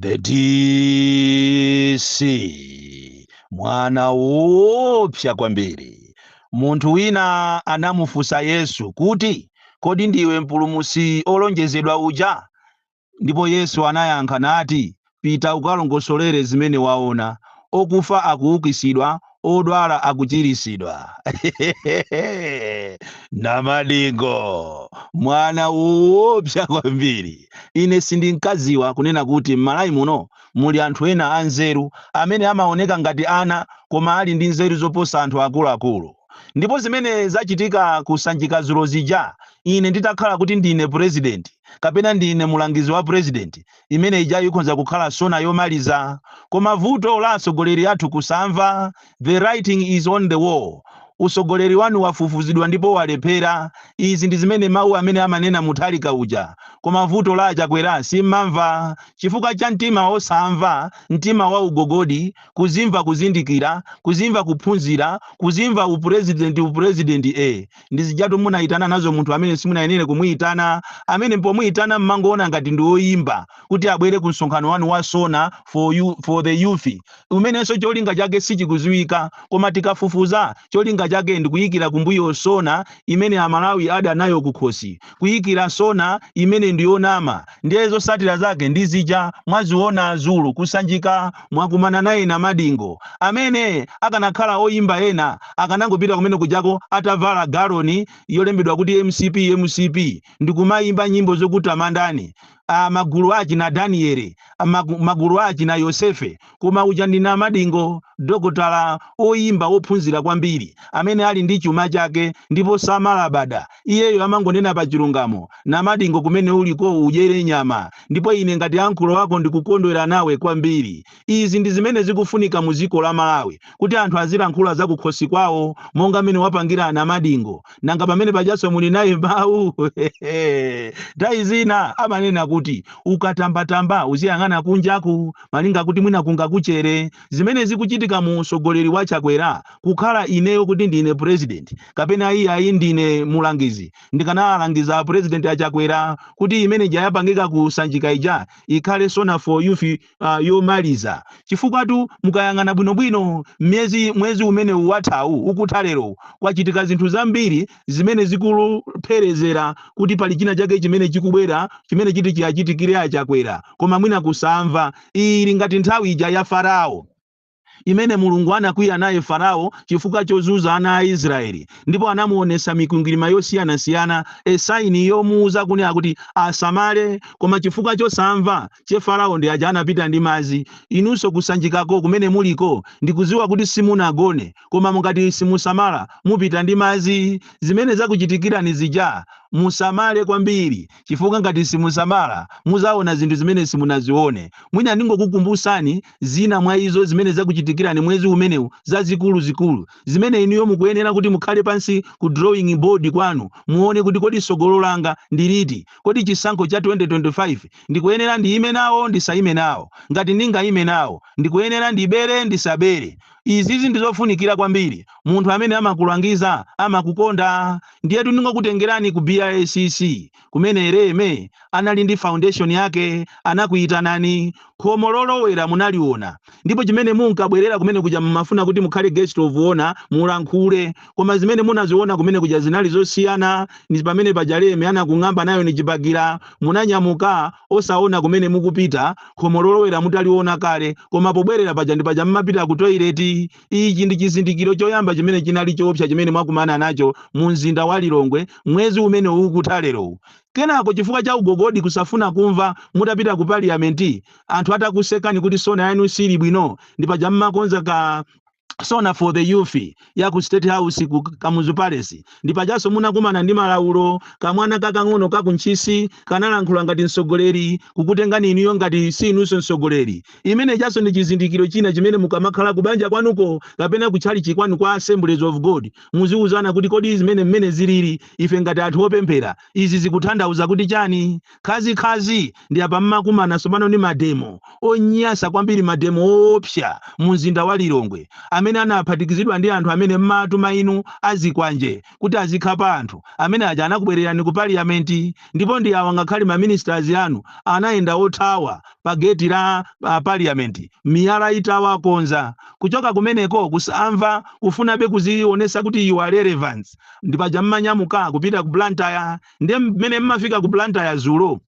the DC mwana woopsa kwambiri munthu wina anamufunsa yesu kuti kodi ndiwe mpulumutsi olonjezedwa uja ndipo yesu anayankha nati pita ukalongosolere zimene waona okufa akuukitsidwa odwala akuchiritsidwa namadingo mwana woopsa kwambiri ine sindinkadziwa kunena kuti m'malawi muno muli anthu ena anzeru amene amaoneka ngati ana koma ali ndi nzeru zoposa anthu akuluakulu ndipo zimene zachitika ku sanjika dzulo zija ine nditakhala kuti ndine purezidenti kapena ndine mulangizi wa purezidenti imene ijayo ikhonza kukhala sona yomaliza koma vuto la atsogoleri athu kusamva the writing is on the wall utsogoleri wanu wafufuzidwa ndipo walephera izi ndi zimene mawu amene amanena Mutharika uja koma vuto la achakwera simmamva chifukwa cha mtima osamva mtima wa ugogodi kudzimva kuzindikira kudzimva kuphunzira kudzimva upurezidenti upurezidenti e Ndi zijatu, munaitana nazo munthu amene simunayenere kumuitana, amene pomuitana m'mangoona ngati ndi woimba, kuti abwere ku msonkhano wanu wa Sona for the Youth, umenenso cholinga chake sichikudziwika, koma tikafufuza, cholinga chake ndi kuikira kumbuyo Sona imene Amalawi adana nayo kukhosi. kuyikira sona imene ndiyonama ndiye zotsatira zake ndi zija mwaziwona dzulo ku sanjika mwakumana naye namadingo amene akanakhala oyimba ena akanangopita kumene kujako atavala galoni yolembedwa kuti mcp mcp ndikumayimba nyimbo zokutamandani a magulu achina Daniele, magulu achina Yosefe, koma uja ndi namadingo, dokotala, oyimba, wophunzira kwambiri, amene ali ndi chuma chake ndipo samalabada. Iyeyo amangonena pa chilungamo. Namadingo kumene uliko udyere nyama, ndipo ine ngati ankolo ako ndikukondwera nawe kwambiri. Izi ndi zimene zikufunika mu dziko la Malawi kuti anthu azilankhula za kukhosi kwawo monga mmene wapangira Namadingo. Nanga pamene pajanso muli naye mawu? Nthawi zina amanena kuti ukatambatamba uziyang'ana kunjaku malinga kuti mwina kungakuchere. Zimene zikuchitika mu utsogoleri wa Chakwera kukhala ineyo kuti ndine president kapena iyayi ndine mulangizi ndikanawalangiza a president a Chakwera kuti imene ija yapangika ku Sanjika ija ikhale sona for youth ah, yomaliza chifukwatu mukayang'ana bwinobwino myezi mwezi umene wathawu ukutha lero kwachitika zinthu zambiri zimene zikulupherezera kuti pali china chake chimene chikubwera chimene chiti chiwachitikire achakwera koma mwina kusamva ili ngati nthawi ija ya farao imene Mulungu anakwiya naye Farao chifukwa chozunza ana a Israeli ndipo anamuonesa mikwingwirima yosiyana siyana a sign yomuuza kunena kuti asamale koma chifukwa chosamva che Farao ndi aja anapita ndi mazi inuso kusanjikako kumene muliko ndikuziwa kuti simunagone koma ngati simusamala mupita ndi mazi zimene zakuchitikilani zija musamale kwambiri chifukwa ngati simusamala muzaona zinthu zimene simunazione mwina ndingokukumbusani zina mwa izo zimene zakuchitikirani mwezi umenewu, zazikulu zikulu, zimene inuyo mukuyenera kuti mukhale pansi ku drawing board kwanu, muone kuti kodi tsogolo langa ndi liti? Kodi chisankho cha 2025 ndikuyenera ndiyime nawo ndisayime nawo? Ngati ndingayime nawo, ndikuyenera ndibere ndisabere? Izizi ndizofunikira kwambiri. Munthu amene amakulangiza amakukonda. Ndiyetu ndingokutengerani ku BICC. kumene Leme anali ndi foundation yake, anakuyitanani, khomo lolowera munaliona, ndipo chimene munkabwerera kumene kuja mumafuna kuti mukhale guest of honor, mulankhule, koma zimene munaziona kumene kuja zinali zosiyana ndi pamene paja Leme anakung'amba nayo ndi chibagira, munanyamuka osaona kumene mukupita, khomo lolowera mutaliona kale, koma pobwerera paja ndi paja mmapita ku toilet. Ichi ndi chizindikiro choyamba chimene chinali choopsa chimene mwakumana nacho mu mzinda wa Lilongwe mwezi umene ukutha lerowu. Kenako chifukwa cha ugogodi kusafuna kumva mutapita ku parliament anthu atakusekani kuti sona yanu siili bwino ndi paja mmakonza ka sona for the youth ya ku state house ku Kamuzu Palace ndi pajanso munakumana ndi malaulo kamwana kakang'ono ka ku Ntchisi kanalankhula ngati mtsogoleri kukutengani inuyo ngati si inunso mtsogoleri Imenejanso ndi chizindikiro china chimene mukamakhala kubanja kwanuko kapena kutchalitchi kwanu kwa Assemblies of God, muziuzana kuti kodi zimene mmene ziliri, ife ngati anthu opemphera, izi zikutanthauza kuti chani? Khazi khazi ndi apa mmakumana tsopano ndi mademo, onyasa kwambiri mademo oopsa mu mzinda wa Lilongwe amene anaphatikizidwa ndi anthu amene mmaatuma inu azikwanje, kuti azikhapa anthu, amene aja anakubwererani ku Parliament, ndipo ndi awa ngakhale ma ministers anu anayenda othawa pa gate la Parliament miyala itawakonza. Kuchoka kumeneko kusamva, kufunabe kuzionetsa kuti you are relevant, ndi paja mmanyamuka kupita ku Blantyre, ndiye mmene mmafika ku Blantyre dzulo,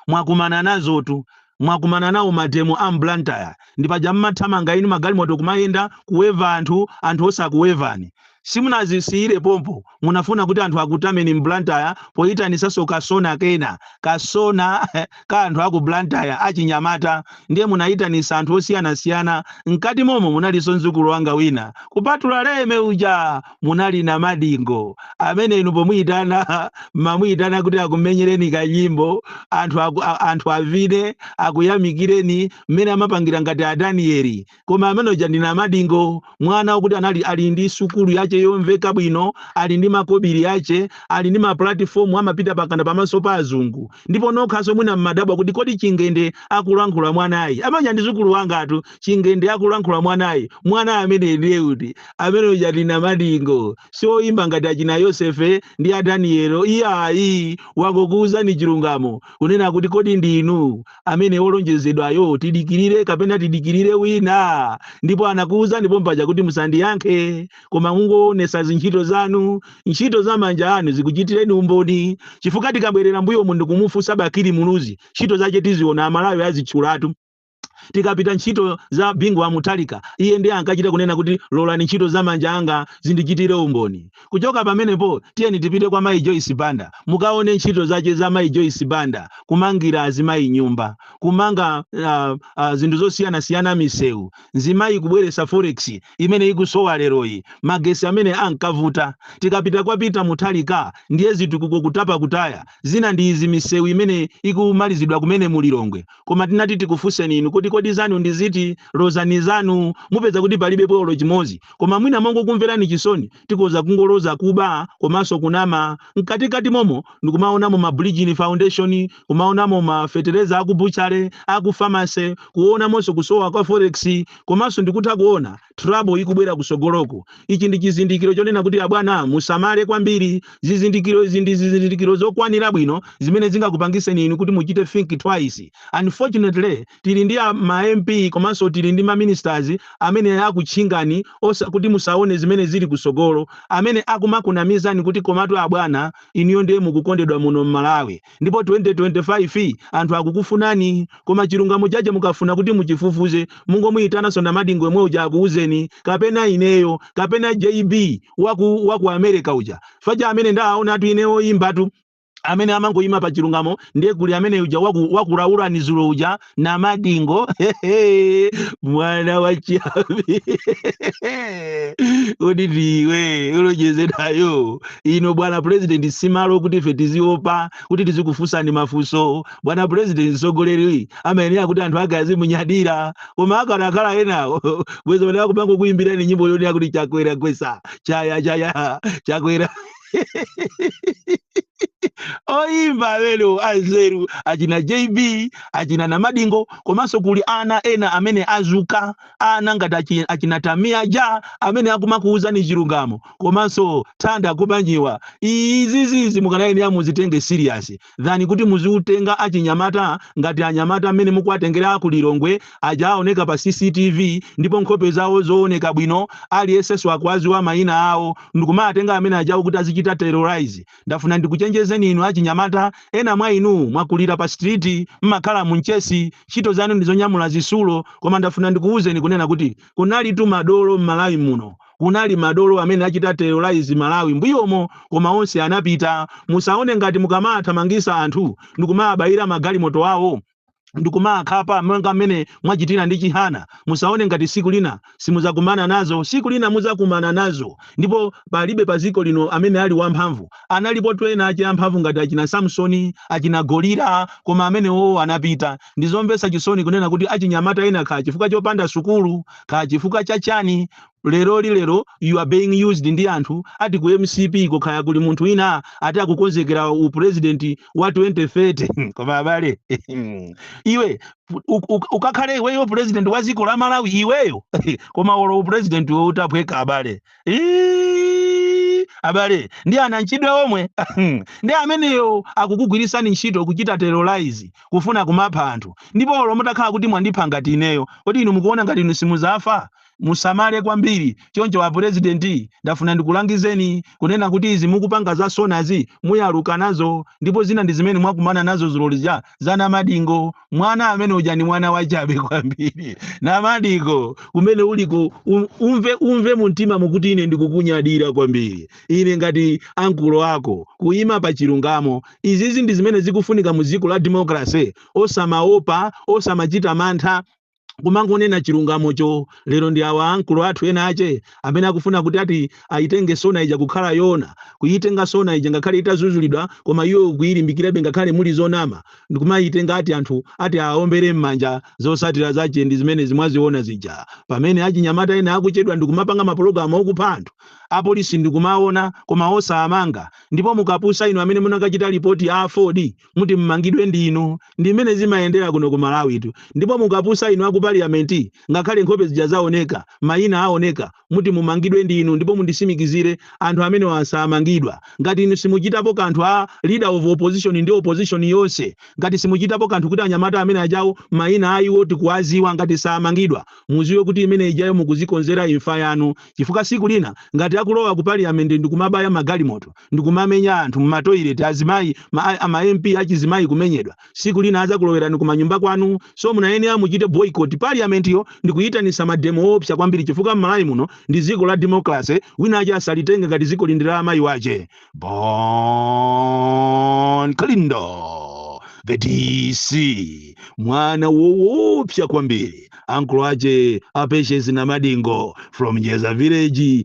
mwakumana nazotu, mwakumana nawo mademo a m'blantyre, ndipaja mmathamanga inu m'magalimoto kumayenda, kuweva anthu, anthu osakuwevani. simunazisiyire pompo, munafuna kuti anthu akutameni m'blantyre poyitanisanso ka sona kena, ka sona ka anthu aku blantyre achinyamata, ndiye munayitanisa anthu osiyanasiyana, mkati momo munalinso mdzukulu wanga wina kupatula leme uja! munali namadingo amene inu pomuyitana mamuyitana kuti akumenyereni kanyimbo anthu aku, a, anthu avine akuyamikireni mmene amapangira ngati adaniyeli koma amene uja ndi namadingo mwana wokuti anali ali ndi sukulu yace yomveka bwino ali ndi makobiri ace ali ndi mapulatifomu amapita mpakana pamaso pa azungu ndipo nokhaso mwina mmadabwa kuti kodi chingende akulankhula mwanayi amene uja ndi mzukulu wangatu chingende akulankhula mwanayi mwana amene ndiye kuti amene uja ndi namadingo si oyimba ngati achina yosefe ndi a daniyelo iyayi wangokuwuzani chilungamo kunena kuti kodi ndinu amene olonjezedwayo tidikirire kapena tidikirire wina ndipo anakuwuzani pompaja kuti musandiyankhe koma mungoonesa zintchito zanu ntchito za manja anu zikuchitireni umboni chifukwa tikabwerera mbuyomu ndikumufunsa bakili muluzi ntchito zache tiziona amalawi azitchulatu tikapita ntchito za bingu wa mutharika iye ndiye ankachita kunena kuti lolani ntchito za manja anga zindichitire umboni kuchoka pamenepo tiyeni tipite kwa mayi joyce banda mukaone ntchito zace za mayi joyce banda kumangira azimayi nyumba kumanga uh, uh, zinthu zosiyanasiyana misewu nzimayi kubweresa forex imene ikusowa leroyi magesi amene ankavuta tikapita kwa peter mutharika ndiye zitukuko kutapa kutaya zina ndi izi misewu imene ikumalizidwa kumene mulilongwe Koma tinati tikufunseni inu kuti kodi zanu ndi ziti? Lozani zanu. Mupeza kuti palibepo olo chimodzi. Koma mwina mongokumverani chisoni, tikoza kungoloza kuba komanso kunama. Mkatikati momo ndikumaonamo ma Bridgin Foundation, kumaonamo ma fetereza aku butchery, aku pharmacy, kuonamonso kusowa kwa forex, komanso ndikutha kuona. trouble ikubwera kusogoloko ichi ndi chizindikiro chonena kuti abwana musamale kwambiri zizindikiro izi ndi zizindikiro zokwanira bwino zimene zingakupangiseni inu kuti muchite think twice unfortunately tili ndi a- ma mp komanso tili ndi ma ministers amene akutchingani osa kuti musaone zimene zili kusogolo amene akumakunamizani kuti komatu abwana inuyo ndiye mukukondedwa muno m'malawi ndipo 2025 anthu akukufunani koma chilungamo chache mukafuna kuti muchifufuze mungomuyitananso Namadingo yemwe uja akuuzeni kapena ineyo kapena JB waku waku America uja faja amene ndaaonatu ine oyimbatu amene amangoyima pa chilungamo ndiye kuli amene uja waku wakulaulani zulo uja namadingo mwana wa chiyambi kodi ndiwe olonjezedwayo ino bwana president simalo kuti ife tiziopa kuti tizikufunsani mafunso bwana president mtsogoleri amayenera kuti anthu ake azimunyadira koma akanakhala enawo bwezi bwana akumangokuyimbirani nyimbo yonena kuti chakwera gwesa chaya chaya chakwera oyimba lero anzeru achina jb achina namadingo komanso kuli ana ena amene azuka ana ngati achi- achina tamia ja amene akumakuwuzani chilungamo komanso thanda kubanjiwa izizizi mukanayenera ya muzitenge serious than kuti muziwatenga achinyamata ngati anyamata mmene mukuwatengera aku Lilongwe aja awoneka pa cctv ndipo nkhope zawo zowoneka bwino aliyensenso akuwadziwa mayina awo ndikumawatenga amene ajawo kuti azichita terrorise ndafuna ndikuchenjezeni inu achinyamata ena mwa inu mwakulira pa street mmakhala mu mchesi ntchito zanu ndizonyamula zitsulo koma ndafuna ndikuwuzeni kunena kuti kunalitu madolo mmalawi muno Kunali madolo amene achita terrorize Malawi mbuyomo koma onse anapita. Musaone ngati mukamawathamangisa anthu ndikumawabayira magalimoto awo ndikumawakhapa monga mmene mwachitira ndi Chihana musaone ngati siku lina simuzakumana nazo. Siku lina muzakumana nazo ndipo palibe paziko lino amene ali wamphamvu. Analipotu ena ache amphamvu ngati achina Samsoni, achina Goliya koma amenewowo anapita. Ndizomvesa chisoni kunena kuti achinyamata ena kaya chifukwa chopanda sukulu kaya chifukwa cha chani, lero lilero you are being used ndi anthu ati ku mcp ko kaya kuli munthu wina ati akukonzekera u president wa 2030 koma abale iwe u- u- ukakhale iweyo president wa dziko la malawi iweyo koma olo u president wo utaphweka abale Iiii, abale ndi anamchidwe omwe ndi ameneyo akukugwirisani ntchito kuchita terrorize kufuna kumapha anthu ndipo olo mutakhala kuti mwandipha ngati ineyo kodi inu mukuona ngati inu simuzafa Musamale kwambiri. Choncho a president ndafuna ndikulangizeni kunena kuti izi mukupanga za SONAzi muyaluka nazo ndipo zina ndi zimene mwakumana nazo dzulo lija za Namadingo. Mwana amene uja ndi mwana wachabe kwambiri. Namadingo kumene uliko um, umve, umve mumtimamo kuti ine ndikukunyadira kwambiri. Ine ngati ankulo ako kuima pa chilungamo. Izizi ndi zimene zikufunika mu dziko la democracy. Osamaopa, osamachita mantha. kumangonena chilungamocho lero ndi awa ankulo athu ena ache amene akufuna kuti ati ayitenge sona ija kukhala yona kuyitenga sona ija ngakhale itazuzulidwa koma iwo kuyilimbikirabe ngakhale muli zonama ndikumayitenga ati anthu ati aombere m'manja zosatira zache ndi zimene mwaziona zija pamene achinyamata ena akuchedwa ndikumapanga mapulogalamu okupha anthu apolisi ndikumaona koma osawamanga ndipo mukapusa inu amene munakachita lipoti a affordi muti mmangidwe ndinu ndi mmene zimayendera kuno ku malawi tu ndipo mukapusa inu aku parliament ngakhale nkhope zija zaoneka mayina aoneka muti mumangidwe ndinu ndipo mundisimikizire anthu amenewa samangidwa ngati inu simuchitapo kanthu a leader of opposition ndi opposition yonse ngati simuchitapo kanthu kuti anyamata amene ajawo mayina aiwo tikuwaziwa ngati samangidwa muziwe kuti imene ijayo mukuzikonzera imfa yanu chifukwa siku lina ngati akulowa ku parliament ndikumabaya magalimoto ndikumamenya anthu mma toilet azimayi ama MP achizimayi kumenyedwa siku lina azakulowerani kumanyumba kwanu so munayenera muchite boycott parliament yo ndikuyitanisa mademo oopsa kwambiri chifukwa m'Malawi muno ndi dziko la democracy wina ache asalitenge ngati dzikoli ndi la amayi wache bon kalindo the dc mwana woopsa kwambiri ankolo ache a Patience Namadingo from jeza village